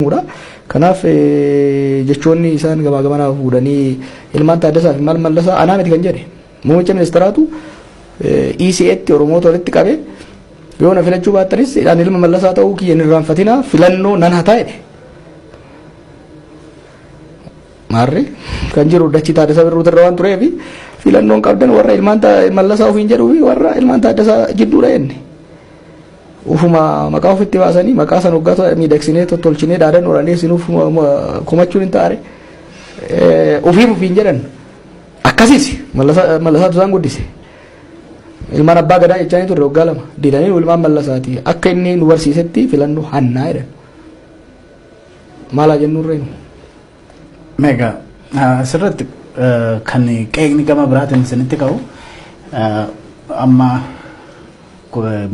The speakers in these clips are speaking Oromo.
jedhamudha. Kanaaf jechoonni isaan gamaa gamanaa fuudhanii ilmaan Taaddasaa fi maal mallasaa anaa miti kan jedhe muummicha ministeeraatu ECAtti Oromoota walitti qabe yoo na filachuu baattanis ani ilma mallasaa ta'uu kiyya hin irraanfatinaa filannoo nan hataa jedhe. Maarri kan jiru dachi Taaddasaa Birruutu irra waan tureef filannoon qabdan warra ilmaan mallasaa ofiin jedhuu fi warra ilmaan Taaddasaa jidduudha jenne. Ufuma maqaa ofitti baasanii maqaa san hoggaa tola- miidhagsinee tottolchinee dhaadan oraalee sinuuf komachuun hin taare ofiif ofiin jedhan akkasiis mallasaa mallasaatu isaan guddise ilmaan abbaa gadaa jechaa hin turre waggaa lama didanii ilmaan mallasaati akka inni nu barsiisetti filannoo hannaa jedhan maalaa jennurree Meegaa asirratti kan qeeqni gama biraatiin isinitti ka'u amma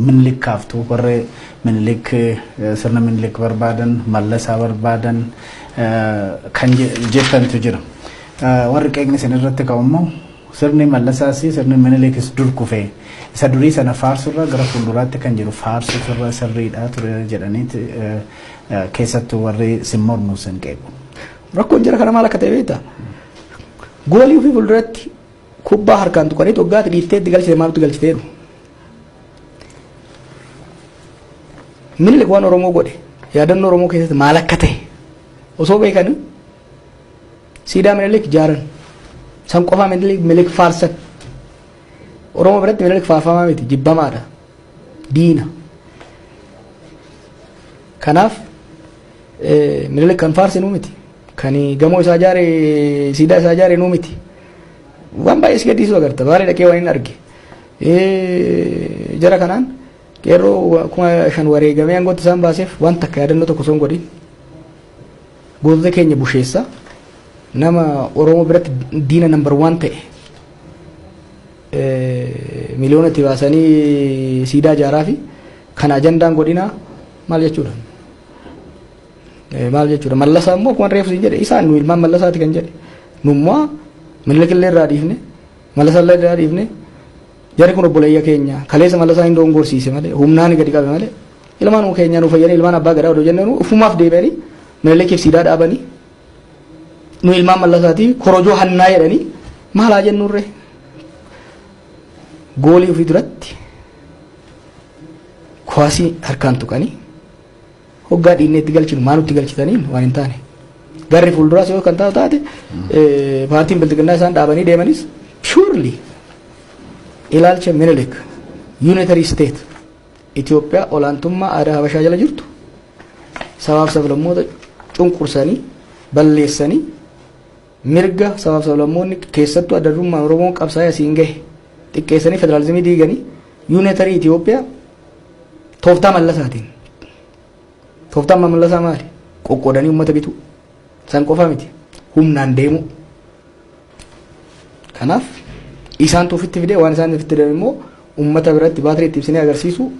minilik kaaftu warri minilik sirna minilik barbaadan mallasaa barbaadan kan jettantu jira. Warri qeeqni isin irratti ka'u immoo sirni mallasaas sirni minilikis dur kufee isa durii sana faarsurra gara fuulduraatti kan jiru faarsuuf irra sirriidha ture jedhaniiti Keessattuu warri sin mormu sin qeequ. Rakkoon jara kana maal akka ta'e beektaa? Goolii ofii fuulduratti kubbaa harkaan tuqanii toggaatti dhiiftee itti galchite maaltu galchite jedhu. Minilik waan Oromoo godhe yaadannoo Oromoo keessatti maal akka ta'e osoo beekanii siidaa minilik jaaran san qofaa minilik faarsan Oromoo biratti minilik faarfamaa miti jibbamaadha. diina. Kanaaf Minilik kan faarse nuu miti. Kan gamoo isaa ijaare siidaa isaa ijaare nuu miti. Waan baay'ee si gaddisiisu agarta. Baalee dhaqee waan hin arge. Jara kanaan qeerroo kuma shan wareegamee aangootti isaan baaseef waan takka yaadannoo tokko osoo hin godhin gootota keenya busheessa nama Oromoo biratti diina nambar waan ta'e Miliyoona itti baasanii siidaa ijaaraafi kana ajandaan godhinaa maal jechuudha? Maal jechuudha? Mallasaa immoo akkuma reefu siin jedhe isaan nu ilmaan mallasaati kan jedhe nummaa millikillee irraa dhiifne mallasallee irraa dhiifne jarri kun obboleeyya keenya kaleessa mallasaa hin doongorsiise malee humnaan gadi qabe malee ilmaan keenyaa nu fayyanii ilmaan abbaa gadaa odoo jennee ufumaaf deebi'anii millikif siidaa dhaabanii nu ilmaan mallasaati korojoo hannaa jedhanii maal haa jennurre goolii ofii duratti kuwaasii harkaan tuqanii hoggaa dhiinneetti galchinu maa nutti galchitaniin waan hin taane garri fuulduraas yoo kan taa'u taate paartiin bilxiginnaa isaan dhaabanii deemanis purely ilaalcha minilik unitary state Itoophiyaa olaantummaa aadaa Habashaa jala jirtu sabaaf sablammoota cunqursanii balleessanii mirga sabaaf sablammoonni keessattuu adda durummaan Oromoon qabsaa'ee asiin gahe xiqqeessanii federaalizimii diiganii yuunetarii Itoophiyaa tooftaa mallasaatiin tooftaan mallasaa maali qoqqoodanii uummata bituu San qofa miti humnaan deemuu. Kanaaf isaantu ofitti fidee waan isaan ofitti fidan immoo uummata biratti baatirii itti ibsinee agarsiisu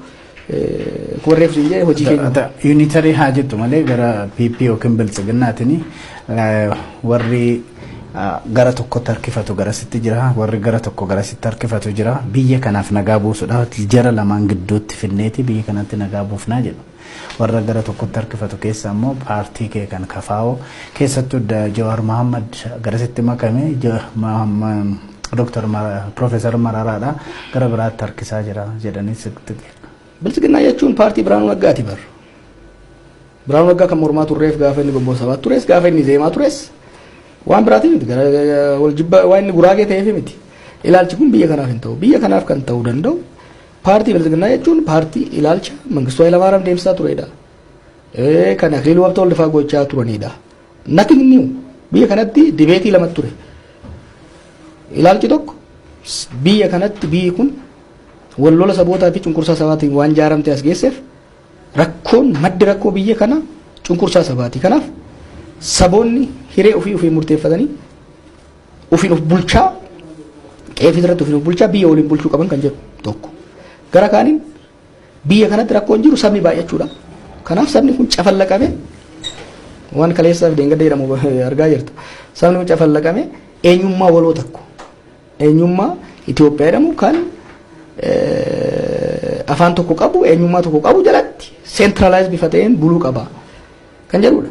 warreef siin jedhe hojii keenya. Yuunitarii haa jettu malee gara PP yookiin biltsiginnaatiin warri gara tokkotti harkifatu garasitti jira warri gara tokko garasitti harkifatu jira biyya kanaaf nagaa buusudha jara lamaan gidduutti finneeti biyya kanatti nagaa buufnaa jedhu. Warra gara tokkotti harkifatu keessaa immoo paartii kee kan KFO keessattuu Jawaar Mahaammad garasitti makame Doktar Piroofeesar Mararaadha gara biraatti harkisaa jira jedhanii sitti Biltsiginnaa jechuun paartii Biraanuu Naggaati bar. Biraanuu Naggaa kan mormaa turreef gaafa inni gobboo sabaatti tures gaafa inni zeemaa tures waan biraatiif miti gara wal jibba waan inni guraagee ta'eef miti. Ilaalchi kun biyya kanaaf hin ta'u. Biyya kanaaf kan ta'uu danda'u Paartii Bilxiginnaa jechuun paartii ilaalcha Mangistuu Hayilamaariyaam deemsisaa turedha. Kan Akiliiluu Habtee Waldifaa gochaa turanidha. Nothing new. Biyya kanatti dibeetii lama ture. Ilaalchi tokko biyya kanatti biyyi kun wal lola sabootaa fi cunqursaa sabaatiin waan ijaaramte as geesseef rakkoon maddi rakkoo biyya kana cunqursaa sabaati. Kanaaf saboonni hiree ofii ofii murteeffatanii Ofiin of bulchaa qe'ee ofii irratti ofiin of bulchaa biyya waliin bulchuu qaban kan jedhu tokko. Gara kaaniin biyya kanatti rakkoon jiru sabni baay'achuudha. Kanaaf sabni kun cafallaqame waan kaleessaa fi deengadda jedhamu argaa jirta. Sabni kun cafallaqame eenyummaa waloo tokko eenyummaa Itoophiyaa jedhamu kan afaan tokko qabu eenyummaa tokko qabu jalatti seentiralaayiz bifa ta'een buluu qaba kan jedhudha.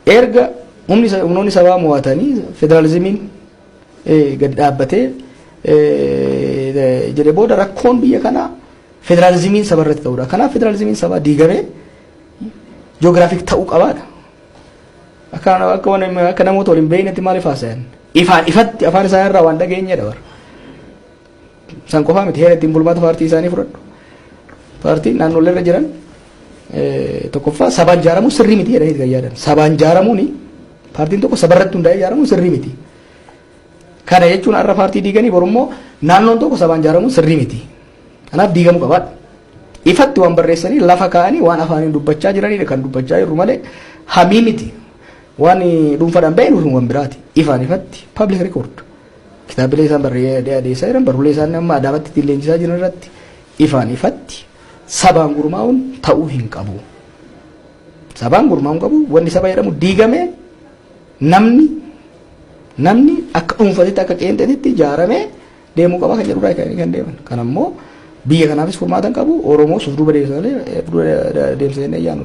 Erga humnoonni sabaa mo'atanii federaalizimiin gadi dhaabbatee jedhe booda rakkoon biyya kanaa federaalizimiin saba irratti ta'udha. Kanaaf federaalizimiin sabaa diigamee joogiraafik ta'uu qabaadha. Akka akka waan akka namoota waliin beeknetti maaliif haasayan? Ifaan ifatti afaan isaa irraa waan dhageenyedha bara. San qofaa miti heera ittiin bulmaata paartii isaanii fudhadhu. Paartiin naannolee irra jiran tokkoffaa sabaan ijaaramuun sirrii miti jedhanii kan yaadan. Sabaan ijaaramuun paartiin tokko sabarratti hundaa'ee ijaaramuun sirrii miti. Kana jechuun har'a paartii diiganii borummoo naannoon tokko sabaan ijaaramuun sirrii miti. Kanaaf diigamuu qabaadha. Ifatti waan barreessanii lafa kaa'anii waan afaaniin dubbachaa jiranidha kan dubbachaa jirru malee hamii miti. Waan dhuunfaadhaan ba'e nuuf waan biraati. Ifaan ifatti public record. Kitaabbilee isaan barreeeee adeessaa jiran, barruulee isaan amma Adaamatti ittiin leenjisaa jiran irratti ifaan ifatti sabaan gurmaa'uun ta'uu hin qabu. Sabaan gurmaa'uun qabu wanni saba jedhamu diigamee namni namni akka dhuunfatitti akka qeenxeetitti ijaaramee deemuu qaba kan jedhurraa kan kan deeman. Kan ammoo biyya kanaafis furmaata hin qabu Oromoo suf duuba deemsa malee eh, duuba deemsa jennee yaanu.